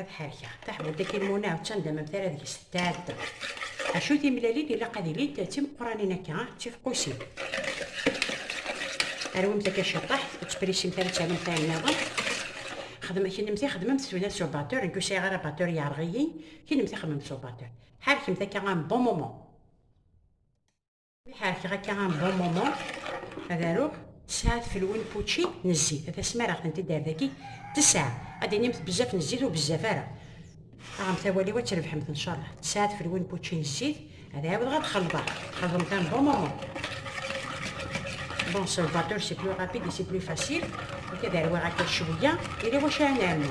ad ḥerkeɣ taḥbult dakin muna d tandamant ara deg-s tɛedda acu timlalin ilaq ad ilint d timeqqranin akka ah, d tifqusin arwimt akka ciṭaḥ ur ttprisimt ara ttarumt ayen nniḍen xedm kennemti xedmemt ssuna s ubatur nekk ur sɛiɣ ara batur yeɛreɣ-iyi kennemti xedmemt s ubatur ḥerkemt akka am bon moment ḥerkeɣ akka un bon moment ad aruɣ tesɛa tfelwin pučči n zzit ad asmareɣ tent-id ar daki tesɛa ad d-inimt bezzaf n zzit ur bezzaf ara aɣemt awal-iw ad trebḥemt n cceṛ tesɛa tfelwin pučči n zzit ad ɛiwdeɣ ad xelḍeɣ xelḍemt un bon moment bon salvateur c'est plus rapide et c'est plus facile ok ad arwiɣ akka cwiya yella wacu ara nɛemmu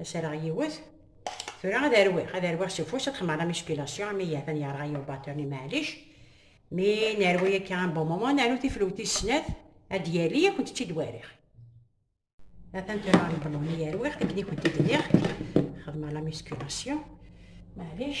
Aserɣ yiwet. Tura ad arwiɣ, ad arwiɣ s ufus, ad xemmeɣ la musculation, ami yatan yerɣa yiw baturni maɛlic. Mi nerwi akka un bon moment, nernu tiflewt tis snat, ad d-yali, ad kent-tt-id wariɣ. Atan tura lbelun i arwiɣ, akken i kent-id-nniɣ, xedmeɣ la musculation, maɛlic.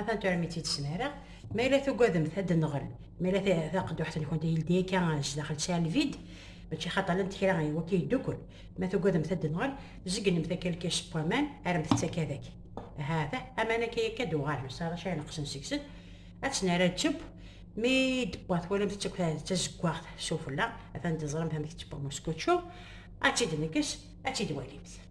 Atan tura mi tt-id-smareɣ. Ma yella tugademt ad d-nɣel, ma yella taqedduḥt-nkent yeldi akka sdaxel tesɛa lvid, mačči xaṭer llant kra i wakka yeddukel. Ma tugademt ad d-nɣel, zegnemt akka lkic n waman, rremt-tt akka deg. Ahat, aman akka yakka d-uɣalen, s ara cay neqsen seg-sen. Ad tt-nerr ad tebb, mi d-tewwa twalamt-tt akk d tazeggaɣt s ufella, atan teẓramt amek d-tewwa muskučču, ad tt-id-nekkes, ad tt-id-walimt.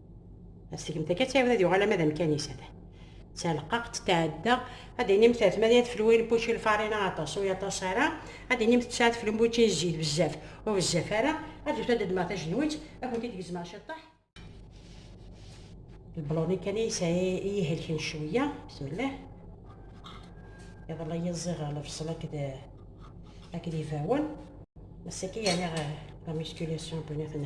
Asegem takka ttɛiwed ad yuɣal ama d amkan-is ata. Taleqqaqt tɛedda, ad d-inim tert ma d ad flu in bučči lfarina aṭas u yaṭas ara, ad d-inim teţţa ad flu in bučči zzit bezzaf u bezzaf ara, ad d-ufet ad d-ddmeɣ tajenwiţ ad kent-id-gezmeɣ ciṭṭaḥ. Lbloni kan i yesɛi i yi-ihelken cweyya, bismillah. Iḍelli i yi-ẓẓiɣ lebṣel akked akked ibawen, ass-agi yerniɣ la musculation n win i ten.